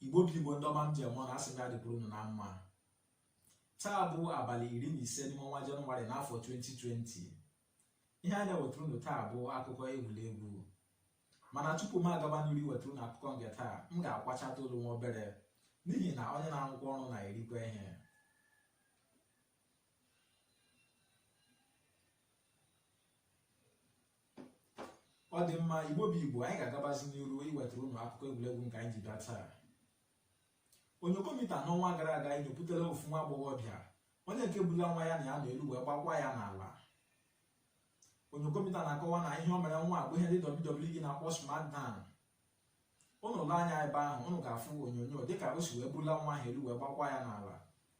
igbo bụ igbo ndị ọma m ji eme ọnụ asị m ya dịkwuru unu na mma taa bụ abalị iri na ise n'ime ọnwa jenụwarị n'afọ 2020 ihe a na-ewetara unu taa bụ akụkọ egwuregwu mana tupu m agaba n'iru iwetara unu akụkọ nke taa m ga-akwachata olu nwa obere n'ihi na onye na-arụkwa ọrụ na-erikwa ihe ọ dị mma igbo bụ igbo anyị ga-agabazi n'iru iwetara unu akụkọ egwuregwu nke anyị ji bịa taa onyokomita n'ọnwa gara aga anyị nyopụtara ofu nwa agbọghọbịa onye nke bula nwa ya na ya nọ elu wee gbakwa ya n'ala onyokomita na-akọwa na ihe o mere nwa bụ ihe ndị WWE na-akpọ SmackDown unu lee anya ebe ahụ unu ga-afụ onyonyo dịka o si wee bula nwa ahụ elu wee gbakwa ya n'ala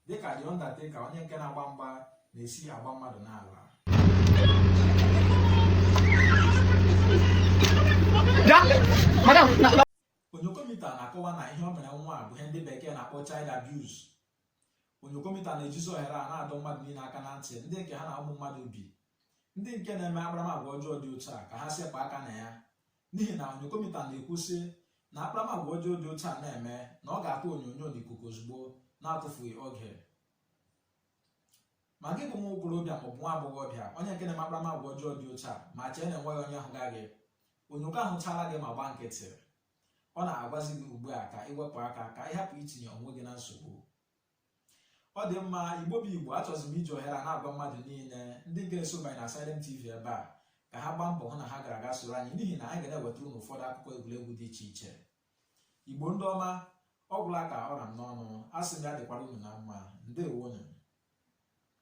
dịka The Undertaker onye nke na-agba mgba na-esi agba mmadụ n'ala onyokomita na-akọwa na ihe o mere nwa a bụ ihe ndị bekee na-akpọ child abuse onyokomita na-ejizi ohere a na-adọ mmadụ niile aka na ntị ndị nke ha na ụmụ mmadụ bi ndị nke na-eme akparamagwa ọjọọ dị otu a ka ha sepụ aka na ya n'ihi na onyokomita na-ekwu sị na akparamagwa ọjọọ dị otu a na-eme na ọ ga-atụ onyonyo n'ikuku ozugbo na-atụfughị oge ma gị bụ nwa okorobịa maọbụ nwa agbọghọbịa onye nke na-eme akparamagwa ọjọọ dị otu a ma chee na enweghị onye hụga gị onyoko ahụchaala gị ma gbaa nkịtị ọ na-agwazi gị ugbu a ka ị wepụ aka ka ị hapụ itinye onwe gị na nsogbu ọ dị mma igbo bụ igbo achọzi m iji ohere a na-agwa mmadụ niile ndị ga-eso banye na Asylum TV ebe a ka ha gbaa mbọ hụ na ha gara aga soro anyị n'ihi na anyị ga na-ewetara unu ụfọdụ akụkọ egwuregwu dị iche iche igbo ndị ọma ọ gwụla ka ọ ra m n'ọnụ asị m ya dịkwara unu na mma ndewonụ